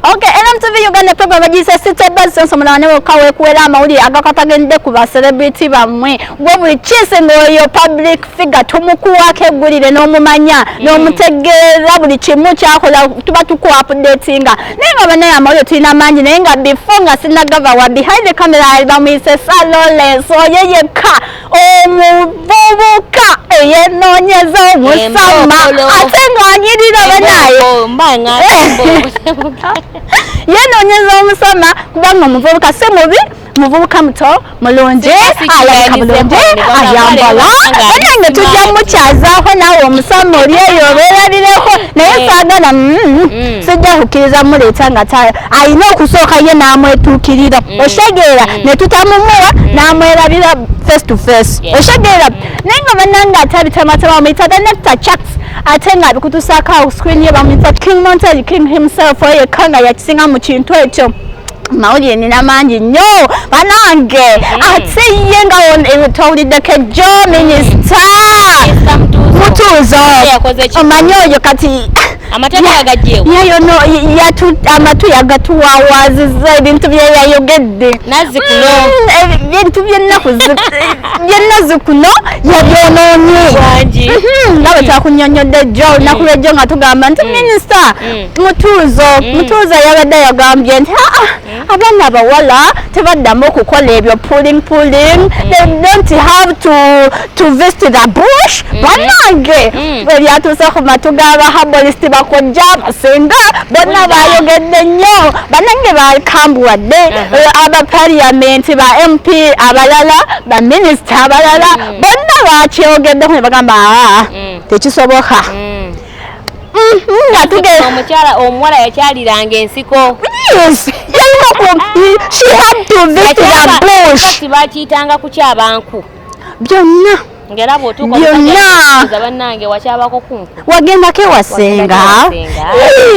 Okay, NMTV Uganda program bagiyise City Buzz sonso mulaba ne wokka weekuwera amawulire agakatagende ku ba celebrity bammwe gwe buli kiisi ng'oyo public figure tumukuwako eggulire n'omumanya mm. n'omutegeera buli kimu kyakola tuba tukuwa updatinga naye nga banaye amawulire tulina mangi naye nga before nga sinagava wa behind the camera ali bamuyise Salores oyo yekka omuvubuka eyenoonyeza omusama ate ng'anyirira banaye yenoonyeza omusama kubanga omuvubuka si mubi muvubuka muto mulungi alabika bulungi ayambala banange tujja mukyazaako naawe omusama oli eyo obeerarireko naye saagala mm, mm. mm. sijja kukkiriza muleeta nga alina okusooka ye n'amwetuukirira mm. osegeera mm. ne tutamumuwa mm. n'amwerabira face to face osegeera naye nga banange ate abitamatama bamuyita the nectar chats ate nga abikutusaako awo screen ye bamuyita king montel king himself oyo ekka nga yakisinga mu kintu ekyo mawulire nina mangi nnyo banange ate ye nga eh, towuliddeko ejjo minisita mutuuzo omanyi oyo kati amateeka gajjewo yeyo no yatu amatu yagatuwawaziza ebintu byeyayogedde nazi kuno mm, ebintu byennaku byennazi kuno yabyononye mm-hmm. nawe twakunyonyodde jjo mm. olunaku lwejjo nga tugamba nti mm. minisita mm. mutuuzo mutuuzo yabadde yagambye nti aa ah, ah, abaana abawala tebaddamu okukola ebyo puling puling mm. they don't have to, to visit the bush mm. banange mm. ebyatuuse ku matu g'abahabolisiti bakojja abasinga bonna bayogedde nnyo banange bakambuwadde uh-huh. eh, abapaliyamenti ba mp abalala baminisita abalala bonna bakyogeddeko ne bagamba ah, tekisoboka mm-hmm, omukyala omuwala yakyaliranga ensiko bakiyitanga kukyabanku byonna ngera bwotuukabanange wakyabako kunku wagendako ewasenga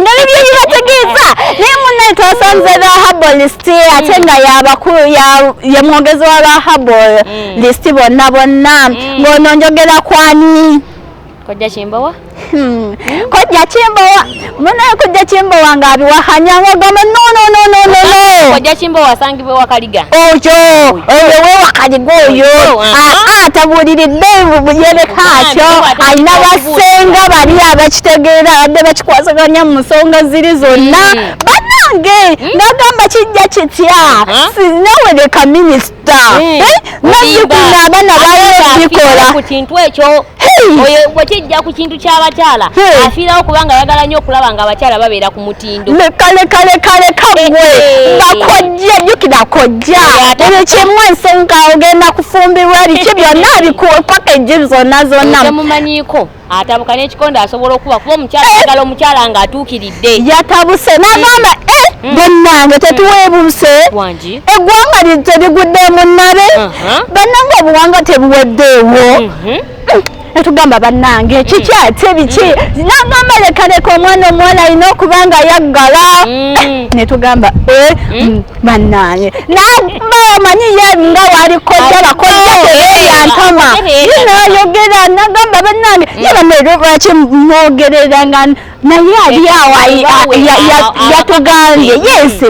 nga bibyo bibategeeza naye munaye twasanze ba habolist ate nga yabakulu yemwogezi wa ba habolist mm. bonna bonna mm. ng'ono njogera kwani Kojja Kimbowa? Hmm. Kojja Kimbowa. Muna kojja Kimbowa nga abiwahanya ngo gamba no no no no no no. Kojja Kimbowa sangibwe wakaliga. Ojo. Oyo we wakaliga oyo. Ah tabulire devu buyere kakyo. Alina basenga bali abakitegeera abadde bakikwasaganya mu nsonga ziri zonna. Hmm. Banange hmm. nagamba kijja kitya. Sinaweleka minisita. Eh, nazzikuna abaana baabikola ku kintu ekyo oyo bwekijja ku kintu ky'abakyala afiirawo kubanga ayagala nnyo okulaba nga abakyala babeera ku mutindo kale kale kale kagwe nga kojja jjukira kojja buli kimu ensonga ogenda kufumbirwa biki byonna bikuwe paka ejjiri zonna zonna atabuka n'ekikonde asobola okuba kuba omukyala eh! agala omukyala nga atuukiridde yatabuse nagamba eh! eh! hmm. bannange hmm. tetuweebuse eggwanga terigudde munnabe uh-huh. bannange obuwanga tebuweddeewo mm-hmm. etugamba bannange hmm. kiki ate biki nagamba lekaleka omwana omuwala alina okuba nga yaggala netugamba banange naye manyi ye nga wali kojja bakojja teyantama yinayogera nagamba banange ye bamere lwaki mwogerera nga naye ali awo yatugambye yesi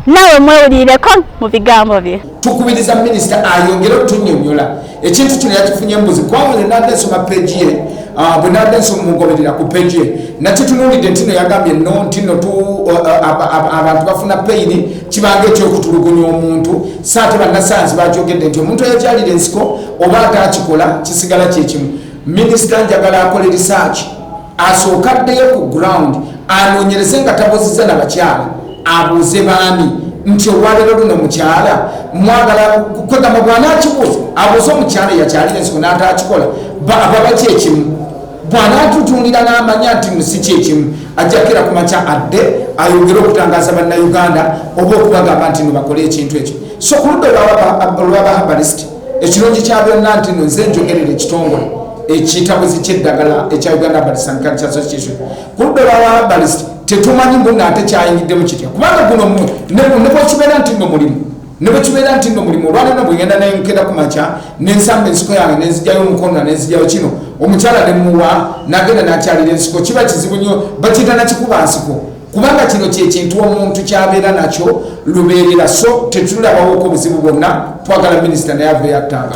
nawe mwewulireko mu bigambo bye tukubiriza minisita ayongere otunyonyola ekintu kino yakifunye mbuzi kubanga ne nadde nsoma peegi ye ah, bwe nadde nsoma mugoberera ku peegi ye nakitunuulidde ntino yagambye no ntino uh, uh, abantu bafuna peyini kibanga ekyokutulugunya omuntu saate bannasayansi bakyogedde nti omuntu eyakyalira ensiko oba ataakikola kisigala kyekimu minisita njagala akole risaaki asooke addeyo ku ground anoonyereze nga tabuuzizza na bakyala abuuze baami nti olwaleero luno mukyala mwagala kwegamba bwanaakibuuza abuuze omukyala eyakyalira ensiko n'ataakikola baba kyekimu bwanaatutungira n'amanya nti musi kyekimu ajjakira ku makya adde ayongere okutangaza bannayuganda oba okubagamba nti nobakole ekintu ekyo so ku ludda olwabahabalist ekirungi kya byonna nti no nze njogerera ekitongole ekitabuzi kyeddagala ekya uganda balist and culture association ku ludda lwaba balist tetumanyi mbu ngaate kyayingiddemu kitya kubanga guno nebwekibeera nti no mulimu nebwekibeera nti no mulimu olwaneno bwegenda nenkera ku makya nensamba ensiko yange nenzijayo omukonona nenzijayo kino omukyala nemuwa nagenda nakyalira ensiko kiba kizibu nyo bakiyita nakikuba nsiko kubanga kino kyekintu omuntu kyabeera nakyo lubeerera so tetulabawoko buzibu bwonna twagala minisita naye aveyo atanga